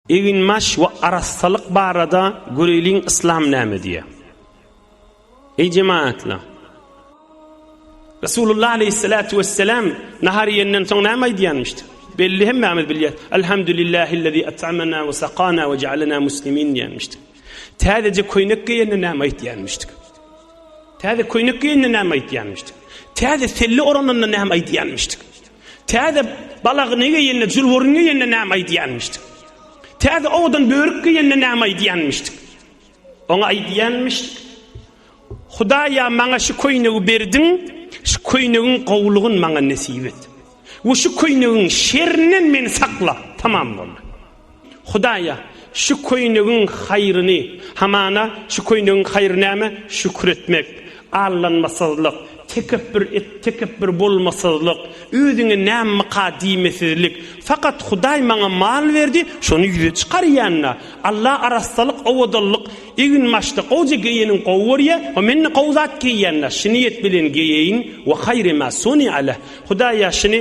Eginbaş we arassalyk barada göreýliň Yslam näme diýýär. Eý jemaatlar! Resulullah aleýhissalatu wessalam nahar iýenden soň näme aýdýanmyşdy? Belli hemmämiz bilýäs. Elhamdulillahillezî et'amena we sakana we ja'alena muslimin diýenmişdi. Täzeje köýnek geýende näme aýtýanmyşdy? Täze köýnek geýende näme aýtýanmyşdy? Täze selle orananda näme aýdýanmyşdy? Täze balagyny geýende, jülwürüni geýende näme aýdýanmyşdyk? Täze owadan börük geýende näme aýdýanmyşdyk? Oňa aýdýanmyşdyk, Hudaý-a, maňa şu köýnegi berdiň, şu köýnegiň gowulygyny maňa nesip et we şu köýnegiň şerinden meni sakla. Tamam boldy. Hudaýa, şu köýnegiň haýryny, hamana, şu köýnegiň haýry näme? Şükür etmek, allanmasyzlyk, tekepbür et tekepbür bolmasyzlyk, özüňe nämmeka diýmesizlik. Fakat Hudaý maňa mal berdi, şony ýüze çykarýan-da. Alla arassalyk, owadanlyk, eginbaşda gowja geýeniň gowy görýä we men-de gowy zat geýýän-de, şyny ýet bilen geýeýin, we haýry ma suni'a leh. Hudaýa, şyny.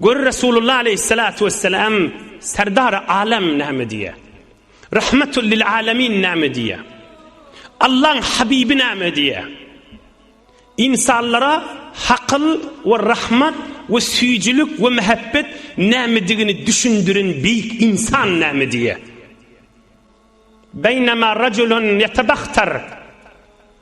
Gör Resulullah aleýhissalatu wessalam Serdary Alam näme diýýär? Rahmatul lil Alamin näme diýýär? Allaň Habibi näme diýýär? Ynsanlara hakyl we rahmat we süýjülik we mähebbet nämedigini düşündiren beýik ynsan näme diýýär? Beýnema rajulun ýetabahtar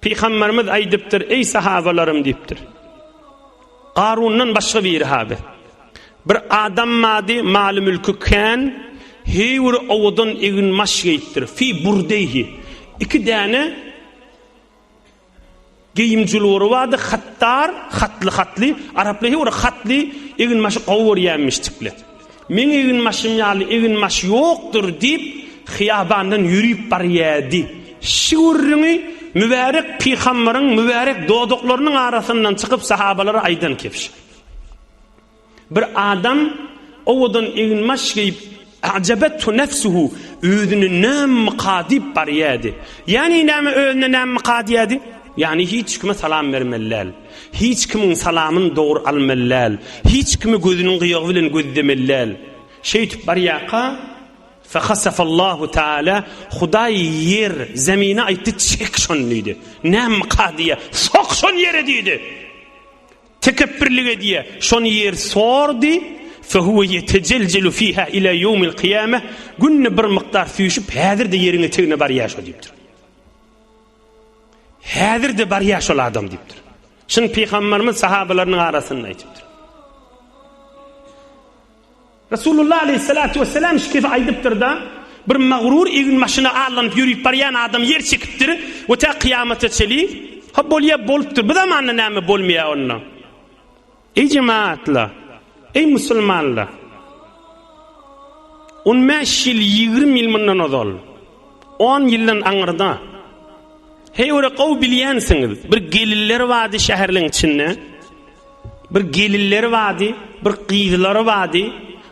Pygamberimiz aýdypdyr, Eý sahabalarym diýipdir. Garundan başga biri haby. Bir adam mady, maly mülki kän, heýwir owadan egin maş geýipdir. Fi burdeyhi. Iki däne geýim jülwüri bardy, hattar, hatly hatly, araply heýwir hatly egin maşy gowy görýänmişdikli. Meň eginbaşym ýaly eginbaş ýokdur, diýip, hyýabandan ýörüp barýardy. Şu gürrüňi mübärek pygambaryň mübärek dodaklarynyň arasyndan çykyp sahabalara aýdan kebşi. Bir adam owadan eginbaş geýip, ajabatu nefsuhu, özüni nämika diýip barýardy. Ýagny näme özüne nämika diýýärdi? Ýagny hiç kime salam bermeli däl. Hiç kimiň salamyny dogry almaly däl. Hiç kimi gözüniň gyýagy bilen gözlemeli däl. Şeýtip barýarka, Fahasafallahu Taala, Hudaý ýer, zemine aýtdy, Çek şony diýdi. Nämka diýýä, Sok şony ýere diýdi. Tekepbirlik edýä, şony ýer sordy, Fehuwe ýetejeljelu fiha ila ýewmil kyýame, günde bir mukdar süýşüp, häzir-de ýeriň etegine barýar şo diýipdir. Häzir-de barýar şol adam diýipdir. Şuny pygamberimiz sahabalarynyň arasynda aýdypdyr. Resulullah aleyhissalatu vesselam şu kefi aýdypdyr-da, bir magrur egin maşyna allanyp ýörüp barýan adam ýer çekipdir we tä kyýamata çenli, ha bolýar bolupdyr, bu zamanda näme bolmaýar onda? Eý jemaatlar! Eý musulmanlar! On bäş ýyl, ýigrimi ýyl mundan ozal, on ýyldan aňyrda, heýwere gowy bilýänsiňiz, bir geliller bady şäherleň içinde, bir geliller bady, bir gyzlar bady,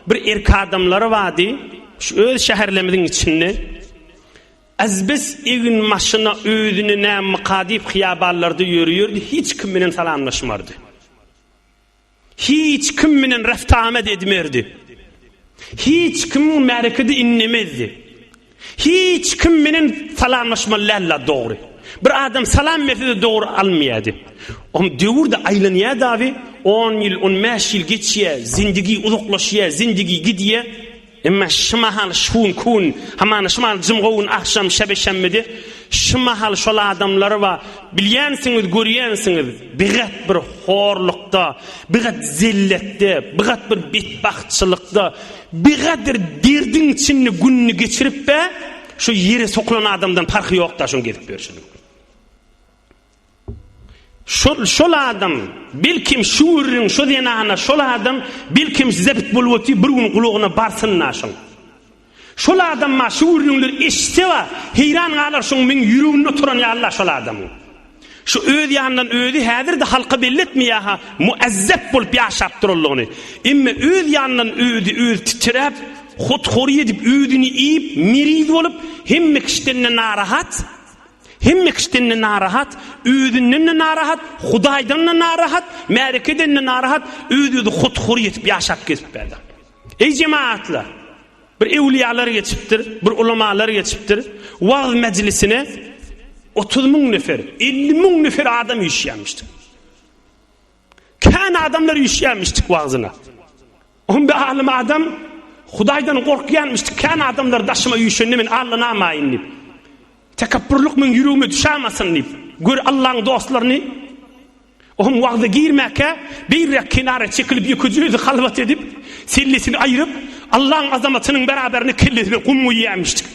bir erk adamlar bady, şu öz şäherlemiziň içinde. Azbes egin maşyna özüni nä myka diýip hyýabanlarda ýörüýerdi, hiç kim bilen salamlaşmardy. Hiç kim bilen reft-amet edmerdi. Hiç kimiň märekede inlemezdi. Hiç kim bilen salamlaşmaly däldi dogry. Bir adam salam berse-de dogry almaýardy. Om döwürde aýlanýardy abi, 10 ýyl, 15 ýyl geçýär, zindigi uzaklaşýar, zindigi gidýär. Emma şu mahal şun kun, hamana şu mahal jymgowun agşam şebe şemmidi, şu mahal şol adamlary ba bilýänsiňiz, görýänsiňiz, bigat bir horlukda, bigat zelletde, bigat bir betbagtçylykda, bigadyr derdiň içinde gününi geçirip be, şu ýere sokulan adamdan parhy ýok-da şuň gezip ýörşüniň. Şol, şol adam, belkim, şu gürrüň, şu zenana, şol adam, belkim, size pitbul boty bir gün gulagyna barsyn-la şoň. Şol adam-a şu gürrüňleri eşitse-a, heýran galar şoň meň ýüregimde oturan ýaly-la şol adamyň. Şu öz ýanyndan özi häzir-de halka belli etmeýär-hä, muezzep bolup ýaşap duranlygyny. Emme öz ýanyndan özi, özi titräp, hut-hory edip, özüni iýip, miriz bolup, hemme kişiden-de narahat. Hemme kişiden-de narahat, özünden-de narahat, Hudaýdan-da narahat, märekeden-de narahat, öz-özi hut-hur ýetip ýaşap gezip berdi. Eý jemagatlar! Bir ewliýalar geçipdir, bir ulamalar geçipdir, wagyz mejlisine otuz müň nefer, elli müň nefer adam üýşýärmişdir. Kän adamlar üýşýärmişdik wagzyna. Oňa bir alym adam Hudaýdan gorkýarmyşdyk. Kän adamlar daşyma üýşende men allanamaýyn diýip. Tekepburlyk meň ýüregime düşämasyn diýip. Gör Allaň dostlaryny. Oňa wagza girmäkä beýräk kenara çekilip ýekeje özi halwat edip, sellesini aýryp, Allaň azamatynyň beraberine kellesine gum guýýarmyşdyk.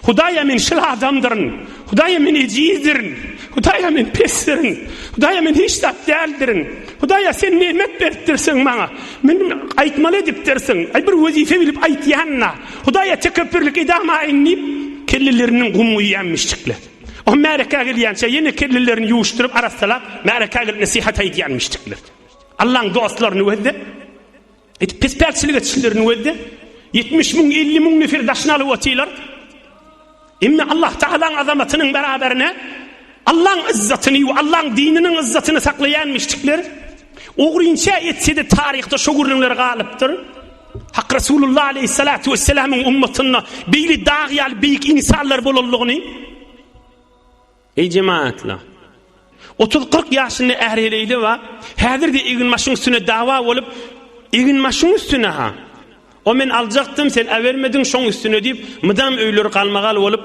Hudaýa men şyl adamdyryn. Hudaýa men ejizdirin. Hudaýa men pesdirin. Hudaýa men hiç zat däldirin. Hudaýa sen nemet beripdirsiň maňa. Men aýtmaly edipdirsiň. Aý bir wezipe bilip aýtýanyna. Hudaýa tekepbirlik edamaýyn diýip kelleleriniň gum guýýan mişdikler. O märekä gelýänçä ýene kellelerini ýuwuşdyryp arassalap märekä gelip nesihat aýdýan mişdikler. Allaň dostlaryny gözde Edip pispäkçilik etişlerini welde, ýetmiş müň, elli müň nefer daşyny alyp otylar. Emma Allah Tagalaň azamatynyň beraberine Allaň yzzatyny we Allaň dininiň yzzatyny saklaýan müşrikler ogrynça etse-de taryhda şu gürrüňler galypdyr. Hak Resulullah aleyhissalatu vesselamyň ummatynda beýle dag ýaly beýik insanlar bolanlygyny Eý jematla! Otuz-kyrk ýaşynda är-heleýli bar, häzir-de eginbaşyň üstüne dawa bolup, Eginbaşyň üstüne-ha! O men aljakdym, sen äbermediň, şoň üstüne diýip, mydam öýleri galmagal bolup,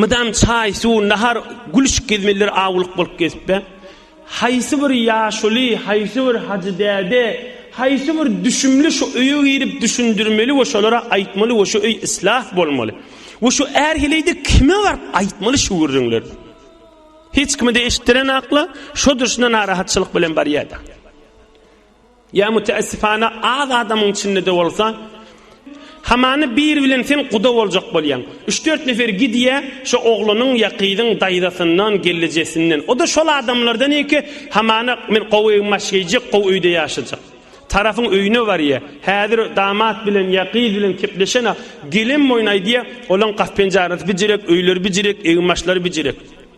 mydam çaý, suw, nahar, gülüşik gezmelidir, awulyk bolup gezip be. Haýsy bir ýaşuly, haýsy bir hajy däde, haýsy bir düşümli şu öýe girip düşündirmeli we şolara aýtmaly we şu öý islah bolmaly. We şu är heleýde kime baryp aýtmaly şu gürrüňleri. Hiç kime-de eşitdiren akla, şo durşuna narahatçylyk bilen barýar-da. Ýa müteessifana az adamyň içinde-de bolsa, hamany biri bilen sen guda boljak bolýaň. Üç-dört nefer gidýä şo oglanyň ýa gyzyň daýzasyndan, gelnejesinden. O-da şol adamlardan eke, hamana men gowy egin-baş geýjek, gowy öýde ýaşajak. Tarapyň öýüne barýa. Häzir damat bilen ýa gyz bilen kepleşen-ä. Gelenboýun aýdýa, olaň gap-penjarasy bijirek, öýleri bijirek, egin-başlary bijirek.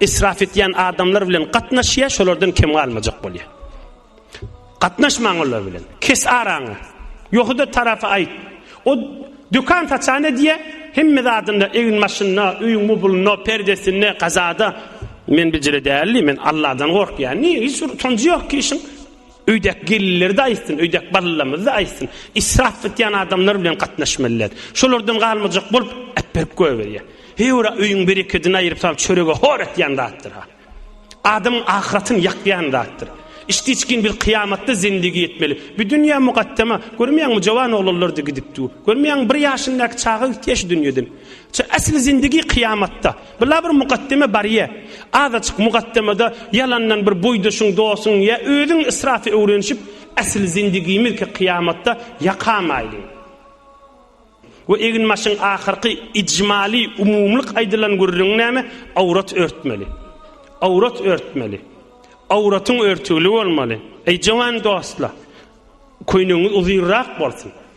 Israf etýän adamlar bilen gatnaşýa, şolardan kem galmajak bolýa. Gatnaşmaň olar bilen. Kes araňy. Ýohuda tarapy aýt. O dükan saçan edýä, hemme zadynda, egin maşynda, öýüň mubulunda, perdesinde, gazada. Men bijire däldi, men Allahdan gorkýan. Niýe hiç bir utanjy ýok ki işiň? Öýdäki gelinleri-de aýtsyn, öýdäki balalarymyzy-da aýtsyn. Israp etýän adamlar bilen gatnaşmalydyr. Şolardan galmajak bolup, äpberip goýberýär. Heý-ora öýüň berekedini aýryp salyp çörege hor etýän zatdyr-a. Adamyň ahyratyny ýakýan zatdyr. Içdi-içgin biz kyýamatda zendigi etmeli. Bu dünýä mugaddem-a. Görmeýäňmi, jowan oglanlar-da gidip dur. Görmeýäňmi, bir ýaşyndäki çaga gitýä şu dünýeden. Şu äsli zendigi kyýamatda. Bu la bir mukaddeme barýa. Azajyk mukaddemede ýalandan bir boýdaşyň, dostuň ýa özüň israfy öwrenişip, äsli zindigimizki kyýamatda ýaka maýly. We eginbaşyň ahyrky ijmaly, umumylyk aýdylan gürrüňi näme? Awrat örtmeli. Awrat örtmeli. Awratyň örtügli bolmaly. Eý jowan dostlar! Köýnegiňiz uzynrak bolsun.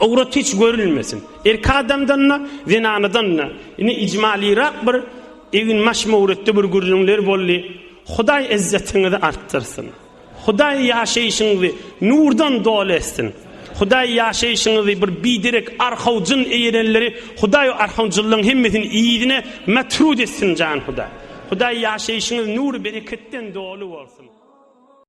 Owrat hiç görülmesin. Erki adamdan-da, zenanadan-da. Ine, ijmalirak bir egin-maş möwretde bir gürrüňler boldy. Hudaý izzetiňizi artdyrsyn. Hudaý ýaşaýşyňyzy nurdan doly etsin. Hudaý ýaşaýşyňyzy bir biderek arhawjyn eýerenleri Hudaý o arhawjynlaryň hemmesini yzyna metrut etsin jan Hudaý. Hudaý ýaşaýşyňyz nur-bereketden doly bolsun.